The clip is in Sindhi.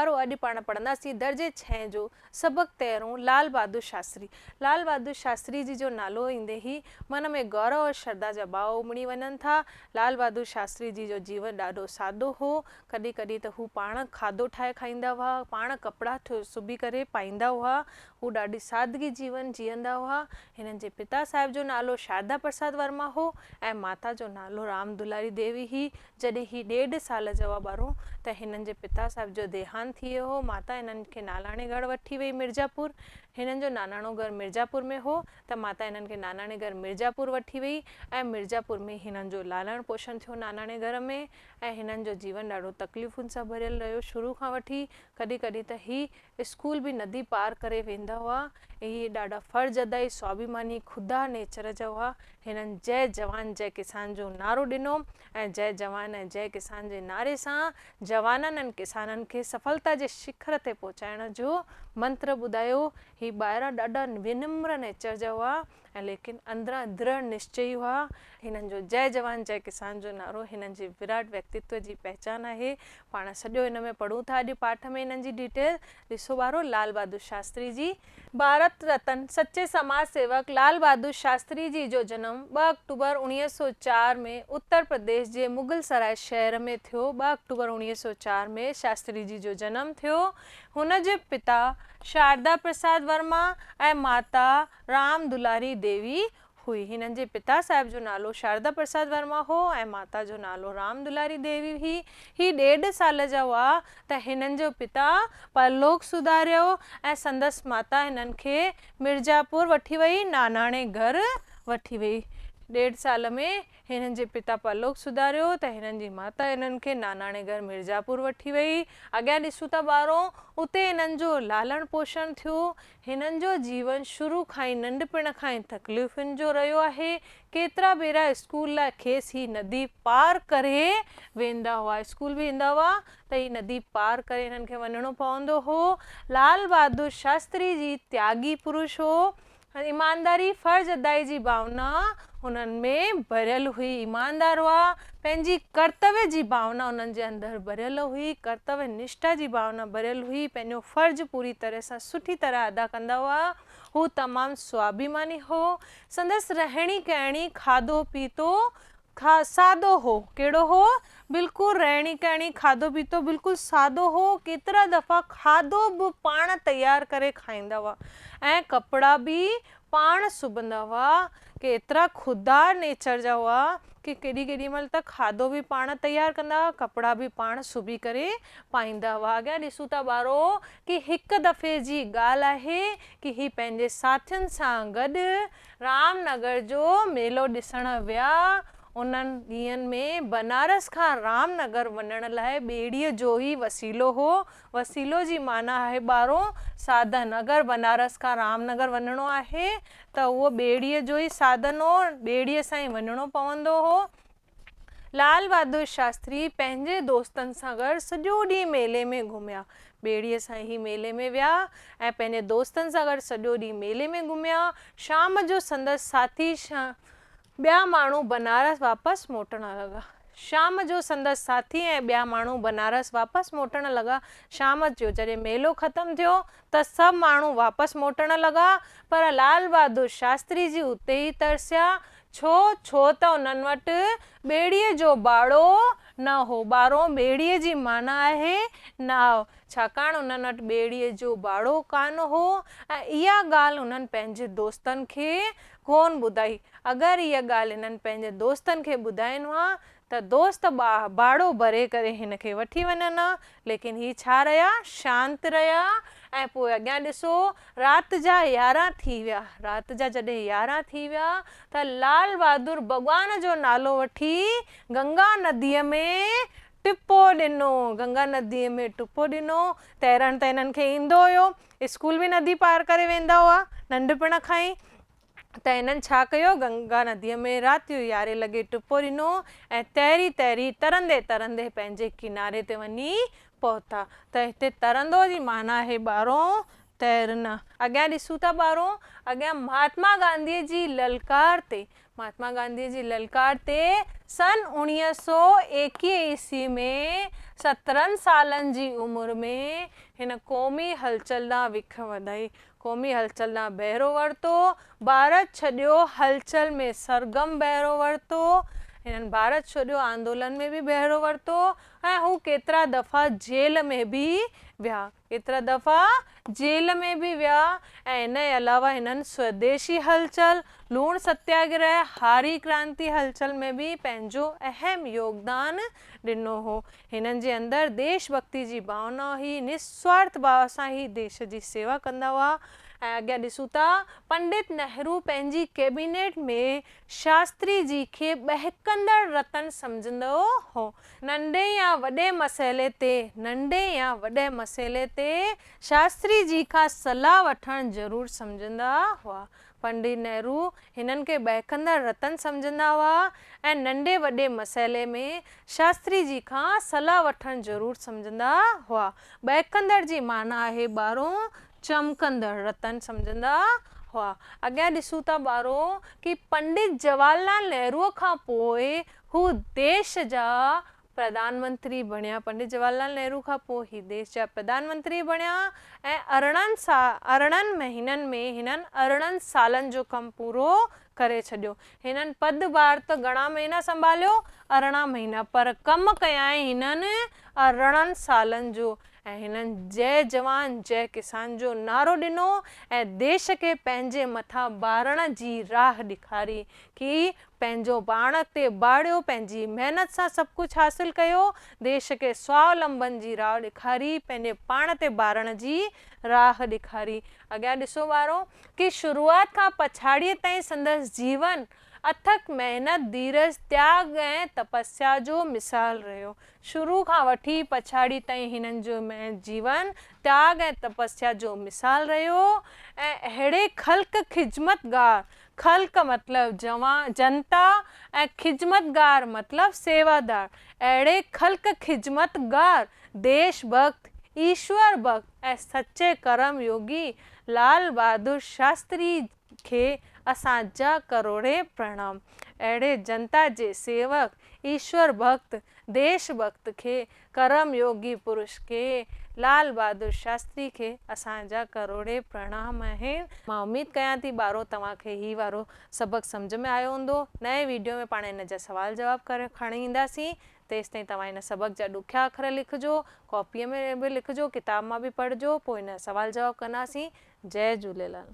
وارو اڄ پاڻ پڙهنداسين درجي ڇهين جو سبق تيرهون لال بهادر شاستري لال بهادر شاستري جي جو نالو ايندي ئي من ۾ غور اور شرڌا جا ٻاء امڙي وڃن ٿا لال بهادر شاستري جي جو جيون ڏاڍو سادو هو ڪڏهن ڪڏهن ته هو پاڻ کاڌو ٺاهي کائيندا هئا پاڻ ڪپڙا سبي ڪري پائيندا هئا هو ڏاڍي سادگي جيون جيئندا هئا هنن جي پتا صاحب جو نالو شارڌا پرساد ورما هو ۽ ماتا جو نالو رام دلاري ديوي هي جڏهن هي ڏيڍ سال جا هئا ٻارو ته هنن جي پتا صاحب جو ديهانت ٿي ويو هو. ماتا هنن کي ناناڻي گهر وٺي ويئي مرزا پور. هنن جو ناناڻو گهر مرزا پور ۾ هو ته ماتا هنن کي ناناڻي گهر مرزا پور وٺي ويئي ۽ مرزا پور ۾ ئي هنن جو لالڻ پوشڻ ٿيو ناناڻي گهر ۾ ۽ هنن جو جيون ڏاڍو تڪليفن سان ڀريل رهيو شروع کان وٺي ڪڏهن ڪڏهن ته هي اسڪول به ندي پار ڪري ويندا هئا. اهي ڏاڍا فرض ادائي سوابيماني خدا نيچر جا هئا. هنن جئه جوان جئه ڪسان جو نعرو ڏنو ۽ جئه جوان ۽ جئه ڪسان جي نعري سان جوانن ۽ ڪسانن کي سڦلتا جي شکر تي پهچائڻ جو منتر ٻڌايو. هي ٻاهران ڏاڍا ونمر نيچر جا هئا ۽ ليڪن اندران درڙ نشچئي هئا. هنن جو جئه جوان جئه ڪسان جو نعرو هنن جي وراٽ ويڪتيتو جي پهچان آهي. پاڻ سڄو ان ۾ پڙهون ٿا اڄ پاٺ ۾ انهن جي ڊيٽيل ڏسو ٻارو لال بهادر شاستري جي، ڀارت رتن، سچي سماج سيوڪ لال بهادر شاستري جي جو جنم ٻه آڪٽوبر اوڻيهه سؤ چار ۾ اتر پرديش جي مغل سرائي شهر ۾ ٿيو ٻه آڪٽوبر اوڻيهه سؤ چار ۾ شاستري جي جو جنم ٿيو هن جي پتا شاردا پرساد ورما ۽ ماتا رام دلاري ديوي هئي. هنن جي پتا صاحب جو نالو شاردا پرساد ورما هو ۽ ماتا جو نالو رام دلاري ديوي هئي. هي ڏيڍ سال جا هئا ته هنن جو پتا پرلوڪ سڌاريو ۽ سندس ماتا هنن کي مرزاپور وٺي وئي، ناناڻي گهر وٺي وئي. ڏيڍ سال ۾ هنن جي پتا پرلوڪ سڌاريو ته هنن جي ماتا هنن کي ناناڻي گهر مرزاپور وٺي وئي. اڳيان ڏسون ٿا ٻارو، اتي هنن جو لالڻ پوشڻ ٿيو. هنن جو جيون شروع کان ئي ننڍپڻ کان ئي تڪليفن جو رهيو آهي. ڪيترا ڀيرا اسڪول لاء کيس هي ندي پار ڪري ويندا هئا. اسڪول به ايندا هئا ته هي ندي پار ڪري هنن کي وڃڻو پوندو هو. لال بهادر شاستري جي تياڳي پرش هو. ايمانداري، فرض ادائي جي ڀاونا انهن ۾ ڀريل هئي، ايماندار هئا، پنهنجي ڪرتوي جي ڀاونا انهن جي اندر ڀريل هئي، ڪرتوي نشٺا جي ڀاونا ڀريل هئي، پنهنجو فرض پوري طرح سان سٺي طرح ادا ڪندا هئا، هو تمام سوابهيماني هو، سندس رهڻي ڪهڻي، کاڌو پيتو سادو هو، ڪهڙو هو؟ بلڪل رهڻي ڪهڻي، کاڌو پيتو بلڪل سادو هو، ڪيترا دفعا کاڌو به پاڻ تيار ڪري کائيندا هئا ۽ ڪپڙا به پاڻ سبندا هئا، ڪي ايترا خوددار نيچر جا هئا ڪي ڪيڏي ڪيڏي مهل ته کاڌو به پاڻ تيار ڪندا هئا، ڪپڙا به پاڻ سبي ڪري پائيندا هئا. اڳيان ڏسون ٿا ٻارو ڪي هڪ دفعي جي ڳالهه آهي ڪي هي پنهنجي ساٿين سان گڏ رام نگر جو ميلو ڏسڻ ويا. انهن ڏينهن ۾ بنارس کان رام نگر وڃڻ لاء ٻيڙيء جو ئي وسيلو هو وسيلو جي معنيٰ آهي ٻارو ساڌن، اگر بنارس کان رام نگر وڃڻو آهي ته اهو ٻيڙيء جو ئي ساڌن هو، ٻيڙيء سان ئي وڃڻو پوندو هو. لال بهادر شاستري پنهنجي دوستن سان گڏ سڄو ڏينهن ميلي ۾ گهميا. ٻيڙيء سان هي ميلي ۾ ويا ۽ پنهنجي دوستن سان گڏ سڄو ڏينهن ميلي ۾ گهميا. شام جو سندس ساٿي ٻيا ماڻهو بنارس واپس موٽڻ لڳا. شام جو سندس ساٿي ۽ ٻيا ماڻهو بنارس واپس موٽڻ لڳا. شام جو جڏهن ميلو ختم ٿيو ته سڀ ماڻهو واپس موٽڻ لڳا پر لال بهادر شاستري جي اتي ئي ترسيا. ڇو؟ ڇو ته انهن وٽ ٻيڙيء جو ٻاڙو نه هو. ٻاڙو ٻيڙيء جي معنيٰ آهي ناء. ڇاڪاڻ انهن وٽ ٻيڙيء جو ٻاڙو ڪانه هو ۽ اها ڳالهه انهن پنهنجي دوستن کي ڪونه ٻڌائي. اگر اها ڳالهه هنن پنهنجن دوستن کي ٻڌائين ها ته دوست باهه باڙو ڀري ڪري هن کي وٺي وڃن ها. ليڪن هي ڇا رهيا، شانت رهيا ۽ پوء اڳيان ڏسو، رات جا يارهن ٿي ويا. رات جا جڏهن يارهن ٿي ويا ته لال بهادر ڀڳوان جو نالو وٺي گنگا نديء ۾ ٽپو ڏنو. گنگا نديء ۾ ٽپو ڏنو. تيرڻ ته هنن کي ايندو هيو. اسڪول به ندي پار ڪري ويندا هئا ننڍپڻ کان ئي ته هنن ڇا ڪيو گنگا نديء ۾ راتيون يارهين لڳي ٽپو ڏنو ۽ تري تري ترندي ترندي پنهنجي ڪناري تي وڃي پهتا ته هتي ترندو جي معنيٰ آهي ٻارو تيرنا. اڳيان ڏسون ٿا ٻارو اڳيان مهاتما گانڌيء جي للڪار تي مهاتما گانڌيء جي للڪار تي سن اوڻيهه سؤ ايڪيهه عيسوي ۾ سترهن سالن جي عمر ۾ هن قومي هلچل ڏانهن وک وڌائي، قومي هلچل ڏانهن بهرو ورتو، ڀارت ڇڏيو هلچل ۾ سرگرم بهرو ورتو. هنن ڀارت ڇوڏيو آندولن ۾ به بهرو ورتو ۽ هو ڪيترا دفعا جيل ۾ به ويا. ڪيترا دفعا جيل ۾ به ويا ۽ ان جي علاوه هنن سوديشي هلچل، لوڻ ستياگرهه، هاري ڪرانتي هلچل ۾ به پنهنجو اهم يوگدان ڏنو هو. هنن جي اندر ديش ڀڳتي جي ڀاونا هئي، نسوارٿ ڀاو سان هي ديش جي سيوا ڪندا هئا ۽ اڳيان ڏسون ٿا پنڊت نهرو پنهنجي ڪيبينيٽ ۾ شاستري جي کي ٻهڪندڙ رتن سمجهندو هو. ننڍي يا وڏي مسئلي تي ننڍي يا وڏي مسئلي تي شاستري جي کان صلاح وٺڻ ضرور سمجهندا هئا. پنڊت نهرو هنن کي ٻهڪندڙ رتن سمجهندا هئا ۽ ننڍي وڏي مسئلي ۾ شاستري جي کان صلاح وٺڻ ضرور سمجهندا هئا. ٻهڪندڙ جي معنيٰ آهي ٻارو، چمڪندڙ رتن سمجهندا هئا. اڳيان ڏسون ٿا ٻارو ڪي پنڊت جواهر لال نهرو کان پوء هو ديش جا پرڌان منتري بڻيا، پنڊت جواهر لال نهرو کان پوء هي ديش جا پرڌان منتري بڻيا ۽ ارڙهن سا ارڙهن مهينن ۾ هنن ارڙهن سالن جو ڪم پورو ڪري ڇڏيو. هنن پد ڀار ته گهڻا مهينا سنڀاليو، ارڙهن مهينا، پر ڪم ڪيائين هنن ارڙهن سالن جو ۽ هنن جئه جوان جئه ڪسان جو نعرو ڏنو ۽ ديش کي پنهنجي مٿان ڀاڙڻ جي راهه ڏيکاري، ڪي پنهنجو پاڻ اڳتي ٻاڙيو، پنهنجي محنت سان سڀ ڪجهه حاصل ڪيو، ديش کي سوالمبن جي راهه ڏيکاري، پنهنجي پاڻ تي ٻارڻ جي راهه ڏيکاري. اڳيان ڏسو ٻارو ڪي شروعات کان پڇاڙيء تائين سندس جيون اٿڪ محنت، ڌيرج، تياڳ ۽ تپسيا جو مثال رهيو. شروع کان وٺي پڇاڙي تائين هنن جو محنت جيون تياڳ ۽ تپسيا جو مثال رهيو ۽ اهڙي خلق خجمتگار خلق مطلب جوان جنتا ۽ خدمتگار مطلب سيوادار. اهڙي خلق خدمت گار، ديش ڀڳت، ايشور ڀڳت ۽ سچي ڪرم يوگي لال بهادر شاستري کي اسان جا ڪروڙين پرڻام. اهڙي جنتا جي سيوڪ، ايشور ڀڳت، ديش ڀڳت کي ڪرم يوگي پرش ڪي لال بهادر شاستري کي اسان جا ڪروڙين پرڻام آهن. مان اميد ڪيان ٿي ٻارو توهان کي هي وارو سبق سمجهه ۾ آيو هوندو. نئين ويڊيو ۾ پاڻ هن جا سوال جواب کڻي اينداسين. تيستائين توهان هن سبق جا ڏکيا اکر لکجو. ڪاپيء ۾ به لکجو، ڪتاب مان به پڙهجو، پوء هن جا سوال جواب ڪنداسين. جئي جهوليلال.